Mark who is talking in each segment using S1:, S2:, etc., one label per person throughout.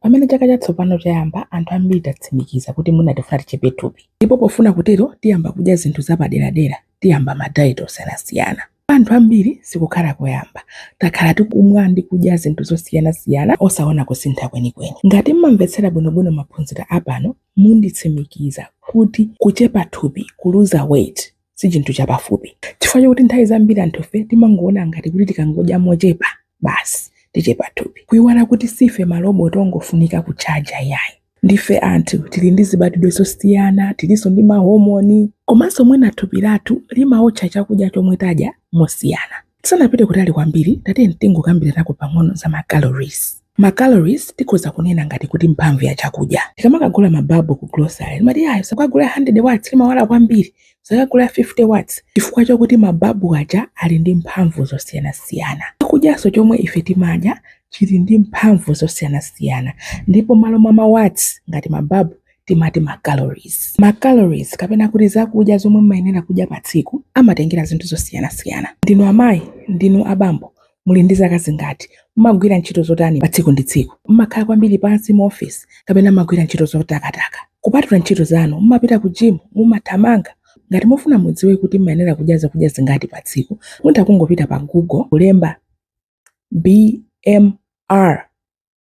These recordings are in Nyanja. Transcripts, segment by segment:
S1: Pamene chaka chatsopano chayamba, anthu ambiri tatsimikiza kuti mwina tifuna tichepe thupi. Ndipo pofuna kutero, tiyamba kudya zinthu zapaderadera, tiyamba ma diet osiyanasiyana. Kwa anthu ambiri sikukhala koyamba. Takhala tikumwa ndi kudya zinthu zosiyanasiyana osaona kusintha kwenikweni. Ngati mmamvetsera bwinobwino maphunziro apano, munditsimikiza kuti kuchepa thupi, kuluza weight, si chinthu chapafupi chifukwa chakuti nthawi zambiri anthufe timangoona ngati kuti tikangodya mochepa basi tichepa thupi kuiwala kuti sife maloboti ongofunika kutchaja iyayi ndife anthu tili ndi zibadwidwe zosiyana tilinso ndi mahomoni komanso mwina thupi lathu limaotcha chakudya chomwe tadya mosiyana Tisanapite kutali kwambiri, tatiyeni tingokambiranako pang'ono za ma calories. Ma calories tikhoza kunena ngati kuti mphamvu ya chakudya. Tikamakagula ma bulb ku grocery, timati iyayi usakagule 100 watts limawala kwambiri, usakagule 50 watts chifukwa chokuti ma bulb aja ali ndi mphamvu zosiyanasiyana. Chakudyanso chomwe ife timadya chili ndi mphamvu zosiyanasiyana ndipo mmalo mwa ma watts ngati ma bulb, timati ma calories. Ma calories kapena kuti zakudya zomwe mumayenera kudya pa tsiku amatengera zinthu zosiyanasiyana. Ndinu amayi? Ndinu abambo? Muli ndi zaka zingati? Mumagwira ntchito zotani pa tsiku ndi tsiku? Mumakhala kwambiri pansi mu ofesi kapena mumagwira ntchito zotakataka? Kupatula ntchito zanu, mumapita ku gym? Mumathamanga? Ngati mufuna mudziwe kuti mumayenera kudya zakudya zingati pa tsiku, mutha kungopita pa Google kulemba BMR.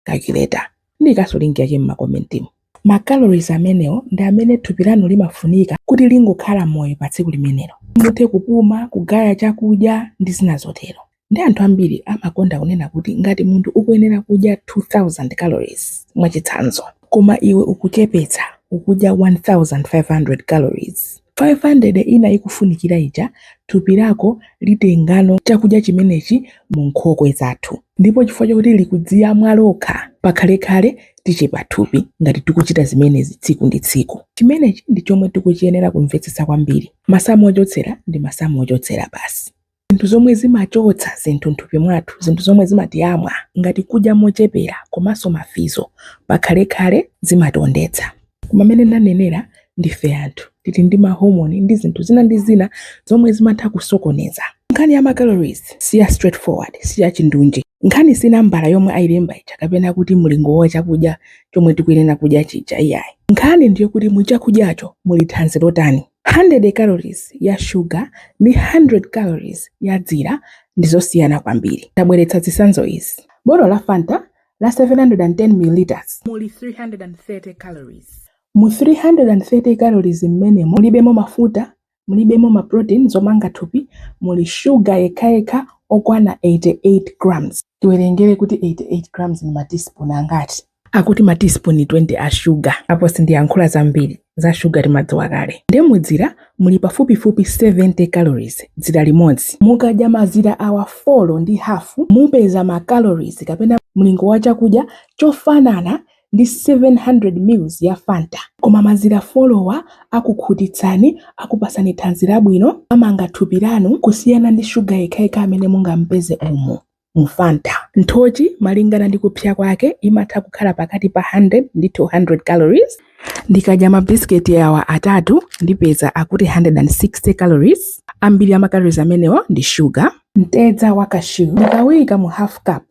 S1: calculator ndiikanso link yake mmakomentimo ma calories amenewo ndi amene thupi lanu limafunika kuti lingokhala moyo pa tsiku limenelo muthe kupuma kugaya chakudya ndi zina zotero nde anthu ambiri amakonda kunena kuti ngati munthu ukuyenera kudya 2000 calories mwachitsanzo koma iwe ukuchepetsa ukudya 1500 calories 500 ina ikufunikira ija, thupi lako litengano chakudya chimenechi mu nkhokwe zathu. Ndipo chifukwa chakuti likudziyamwa lokha, pakhalekhale tichepa thupi ngati tikuchita zimenezi tsiku ndi tsiku. Chimenechi ndi chomwe tikuchiyenera kumvetsetsa kwambiri. Masamu ochotsera ndi masamu ochotsera basi. Zinthu zomwe zimachotsa zinthu nthupi mwathu, zinthu zomwe zimatiyamwa ngati kudya mochepera komanso mafizo pakhalekhale zimationdetsa. Koma mene ndanenera ndife anthu tili ndi ma hormone ndi zinthu zina ndi zina zomwe zimatha kusokoneza. Nkhani ya ma calories siya straight forward, siya chindunji. Nkhani si nambala yomwe ayilemba ija kapena kuti mlingo wa chakudya chomwe tikuyenera kudya chija iyayi. Nkhani ndiyokuti mu chakudyacho muli thanzi lotani. 100 calories ya shuga ndi 100 calories ya dzira ndi zosiyana kwambiri. Ndabweretsa zitsanzo izi. Botolo la Fanta la 710 ml muli 330 calories. Mu 330 calories mmenemo mulibemo mafuta, mulibemo ma protein, zomanga thupi, muli shuga yekhayekha okwana 88 grams. Tiwerengere kuti 88 grams ndi ma teaspoon angati? akuti ma teaspoon 20 a shuga apo sindiyankhula zambiri za shuga timadziwa kale nde mudzira muli pafupifupi 70 calories dzira limodzi mukadya mazira awa folo ndi hafu mupeza ma calories kapena mlingo wa chakudya chofanana ndi 700 mils ya fanta koma mazira folowa akukhutitsani akupasani thanzi labwino amanga thupi lanu kusiyana ndi shuga yekhayekha amene mungampeze umu mu Fanta. Nthochi malingana ndi kupsya kwake imatha kukhala pakati pa 100 ndi 200 calories. Ndikadya mabisiketi awa atatu ndipeza akuti 160 calories. Ambiri a ma calories amenewa ndi shuga. Mtedza wa cashew ndikawuyika mu half cup.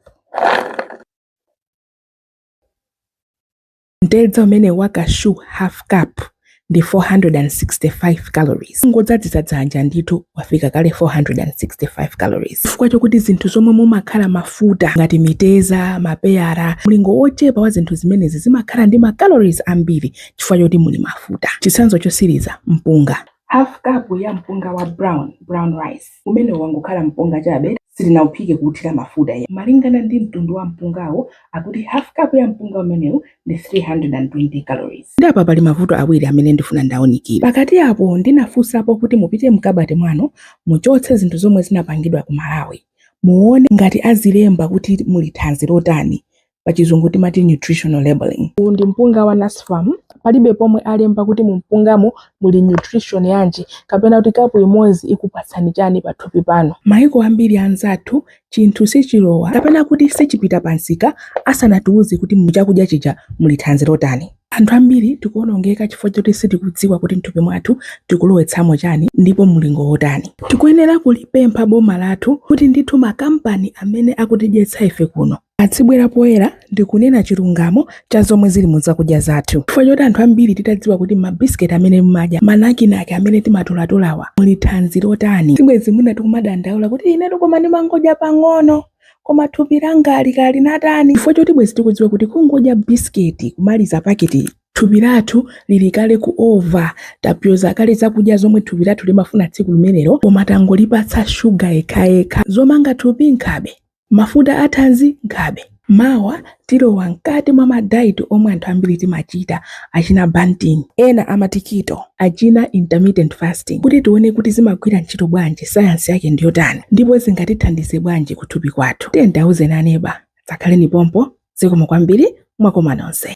S1: Mtedza umenewu wa cashew half cup ndi 465 calories. Kungodzadzitsa dzanja ndithu wafika kale 465 calories. Chifukwa chokuti zinthu zomwe mumakhala mafuta ngati mitedza, mapeyara, mlingo wochepa wa zinthu zimenezi zimakhala ndi ma calories ambiri chifukwa chokuti muli mafuta. Chitsanzo chotsiriza, mpunga. Half cup ya mpunga wa brown, brown rice, umenewu wangokhala mpunga chabe. sitinauphike kuuthira mafuta iyayi. Malingana ndi mtundu wa mpungawo, akuti hafu kapu ya mpunga umenewu ndi 320 calories. Nde apa pali mavuto awiri amene ndifuna ndiunikire. Pakati apo ndinafunsapo kuti mupite mkabati mwanu muchotse zinthu zomwe zinapangidwa ku Malawi muone ngati azilemba kuti muli thanzi lotani pachizungu timati nutritional labeling uwu ndi mpunga wa nasfam palibe pomwe alemba kuti mu mpungamo muli nutrition yanji kapena kuti kapu imodzi ikupatsani chani pathupi panu maiko ambiri anzathu chinthu sichilowa kapena kuti sichipita pamsika asanatiuze kuti mu chakudya chija muli thanzi lotani anthu ambiri tikuonongeka chifukwa choti sitikudziwa kuti mthupi mwathu tikulowetsamo chani ndipo mulingo wotani tikuyenera kulipempha boma lathu kuti ndithu makampani amene akutidyetsa ife kuno Adzibwera poyera ndi kunena chilungamo cha zomwe zili mu zakudya zathu. Chifukwa choti anthu ambiri titadziwa kuti mabisiketi amene mumadya, manakinaki amene timatolatolawa muli thanzi lotani, sibwenzi mwina tikumadandaula kuti inetu koma ndimangodya pang'ono, koma thupi langali kaya linatani. Chifukwa choti bwenzi tikudziwa kuti kungodya bisiketi kumaliza paketiyi, thupi lathu lili kale ku ova, tapyoza kale zakudya zomwe thupi lathu limafuna tsiku limenelo koma tangolipatsa shuga yekhayekha. Zomanga thupi nkhabe. Mafuta a thanzi, nkhabe. Mawa tilowa mkati mwa ma diet omwe anthu ambiri timachita, achina Banting, ena amati keto, achina intermittent fasting, kuti tione kuti zimagwira ntchito bwanji, science yake ndiyotani, ndipo zingatithandize bwanji ku thupi kwathu. Tiyeni tiauzeni aneba. Dzakhaleni pompo. Zikomo kwambiri. Mwakoma nonse.